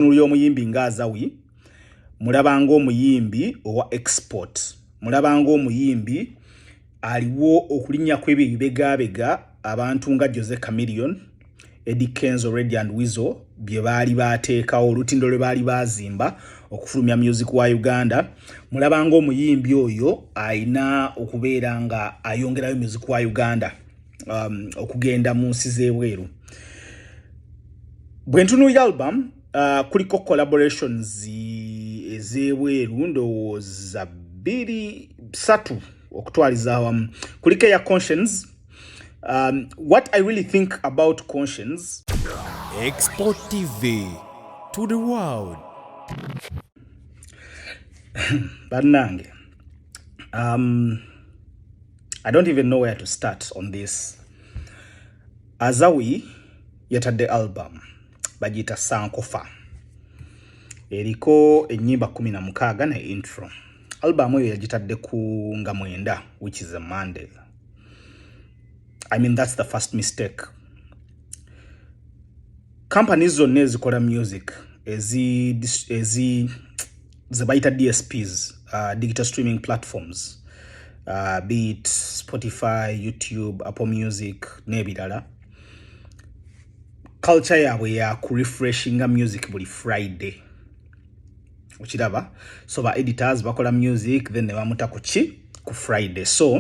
entunulu y'omuyimbi nga azawi mulabanga omuyimbi owa export mulabanga omuyimbi aliwo okulinnya kw'ebyo ebibegabega abantu nga jose camillion edi kenzo redi and wizo bye baali baateekawo olutindo lwe baali baazimba okufulumya music wa uganda mulabanga omuyimbi oyo alina okubeera nga ayongerayo music wa uganda um, okugenda mu nsi z'ebweru bwe ntunuulira album uh, kuliko collaborations ez'ebweru ndowooza bbiri satu okutwaliza awamu kuliko eya conscience um, what i really think about conscience export tv to the world bannange um, I don't even know where to start on this. Azawi yatadde album bagiyita Sankofa. Eriko ennyimba kumi na mukaaga ne intro. Album eyo yagitadde ku nga mwenda which is a Monday. I mean that's the first mistake. Companies zonna ezikola music ezi ezi ze bayita dsps uh, digital streaming platforms uh, be it spotify youtube apple music n'ebirala culture yaabwe ya ku refreshinga music buli friday okiraba so ba editors bakola music then ne bamuta ku ki ku friday so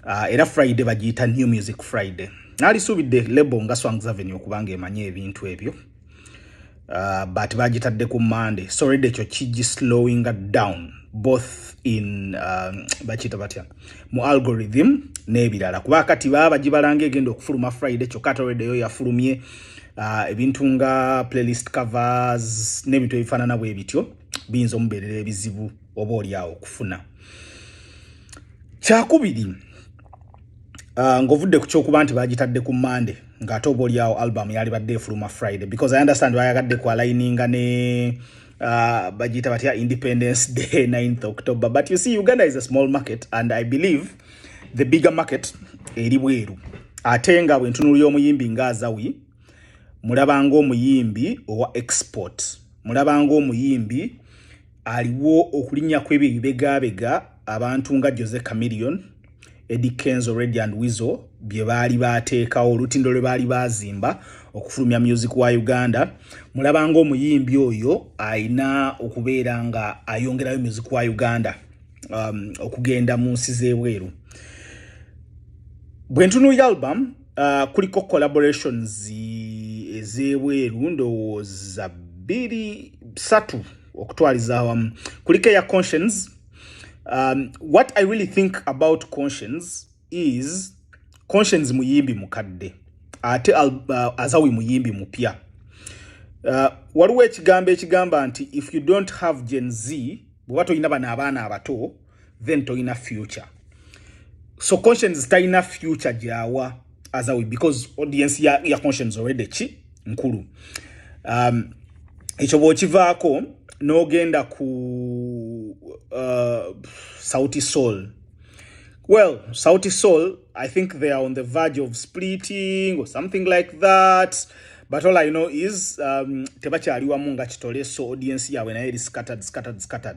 uh, era friday bagiyita new music friday nalisuubidde lebo nga swangsavenue okubanga emanya ebintu ebyo uh, but bagitadde ku monday so redi ekyo kigi slowing down both in um, bakiyita batya mu algorithm n'ebirala kuba kati baba bagibalanga egenda okufuluma friday kyokka ate redi eyo yafulumye uh, ebintu nga playlist covers n'ebintu ebifaanana bwe bityo biyinza omubeerera ebizibu oba olyawo okufuna kyakubiri uh, ng'ovudde ku kyokuba nti bagitadde ku monday nga ate oba olyawo album yalibadde efuluma friday because i understand bayagadde kwalaininga ne uh, bajita batya independence day 9th october but you see uganda is a small market and i believe the bigger market eri bweru ate nga bwentunulira omuyimbi nga azawi mulabanga omuyimbi owa export mulabanga omuyimbi aliwo okulinnya kw'ebyo ebibegaabega abantu nga jose camillion edi kenzo red and wizo bye baali baateekawo olutindo lwe baali baazimba okufulumya music wa uganda mulaba ngaomuyimbi oyo alina okubeera nga ayongerayo music wa uganda um, okugenda mu nsi z'ebweru bwe ntunuira album uh, kuliko collaborations ezebweru ndowooza bbiri satu okutwaliza awamu kuliko eya conscience um, what i really think about conscience is conscience muyimbi mukadde ate uh, azawi muyimbi mupya uh, waliwo ekigambo ekigamba nti if you don't have gen z bweba tolina bano abaana abato then toyina future so conscience tayina future gyawa azawi because audience ya, ya conscience already ki nkulu um, ekyo bwokivaako n'ogenda ku uh, sauti soul well sauti soul i think they are on the verge of splitting or something like that but all i know is um, tebakyali wamu nga kitole so audience yaabwe naye eri scattered scattered scattered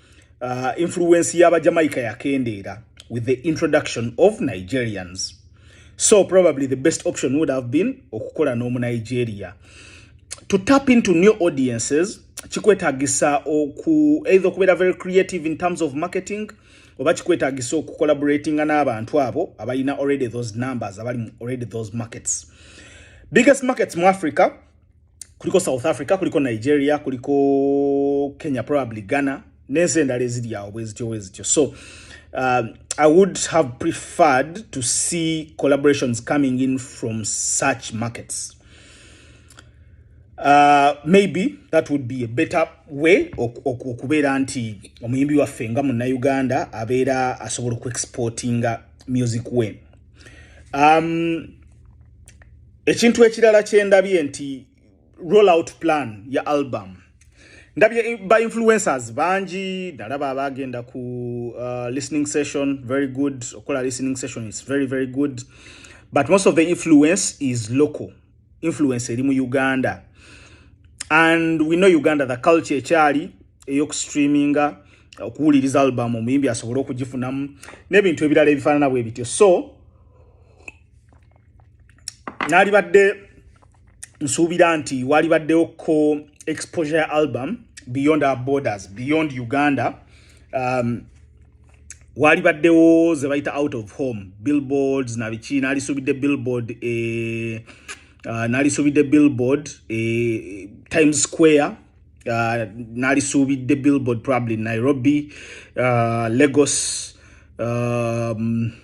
uh, influence yaba jamaica yakendeera with the introduction of nigerians so probably the best option would have been okukola n'omu nigeria to tap into new audiences kikwetagisa oku either okubeera very creative in terms of marketing oba kikwetagisa okucollaboratinga n'abantu abo abalina already those numbers abali already those markets biggest markets mu africa kuliko south africa kuliko nigeria kuliko kenya probably ghana nensi endala eziri awo bwezityo bwezityo so uh, i would have preferred to see collaborations coming in from such markets uh, maybe that would be a better way okubeera nti omuyimbi waffe nga munnauganda abeera asobola okuexportinga music we um, ekintu ekirala kyendabye nti roll out plan ya album ndabye ba influencers bangi ndalaba abagenda ku uh, listening session very good okola listening session is very very good but most of the influence is local influence eri mu uganda and we know uganda the culture ekyali eyokustreaminga okuwuliriza albamu omuyimbi asobole okugifunamu n'ebintu ebirala ebifaanana bwe bityo so nalibadde nsuubira nti walibaddewo ko exposure album beyond our borders beyond uganda um, walibaddewo ze bayita out of home billboards nabiki nalisuubidde billboard e, uh, nalisuubidde billboard e, times square uh, nalisuubidde billboard probably nairobi uh, lagos um,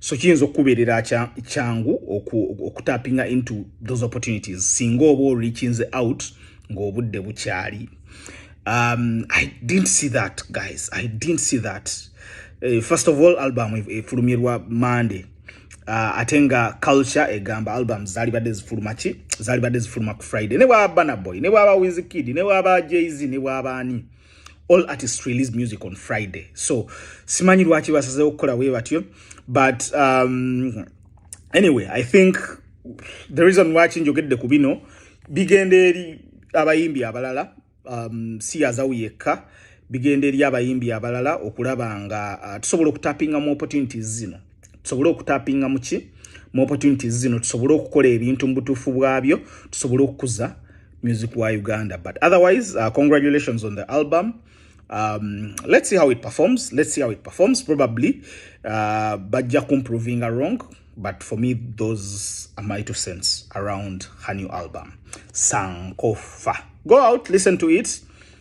so kiyinza okukubeerera kyangu okutapinga into those opportunities singa oba orikinze out ng'obudde bukyali um, i didn't see that guys i didn't see that uh, first of all album efulumirwa monday uh, ate nga culture egamba album zalibadde zifuluma ki zalibadde zifuluma ku friday ne bwaba banaboy ne bwaba wizkid ne bwaba jz ne bwaba ani all artists release music on friday so simanyi lwaki basazewo okukola we batyo but um, anyway i think the reason waki njogedde ku bino bigenda eri abayimbi abalala um, si yazawu yekka bigenda eri abayimbi abalala okulaba nga uh, tusobola okutapinga mu opportunities zino tusobole okutapinga muki mu opportunities zino tusobole okukola ebintu mu butuufu bwabyo tusobole okukuza music wa uganda but otherwise uh, congratulations on the album um, let's see how it performs let's see how it performs probably uh, bajja kumprovinga wrong but for me those are my two cents around her new album sankofa go out listen to it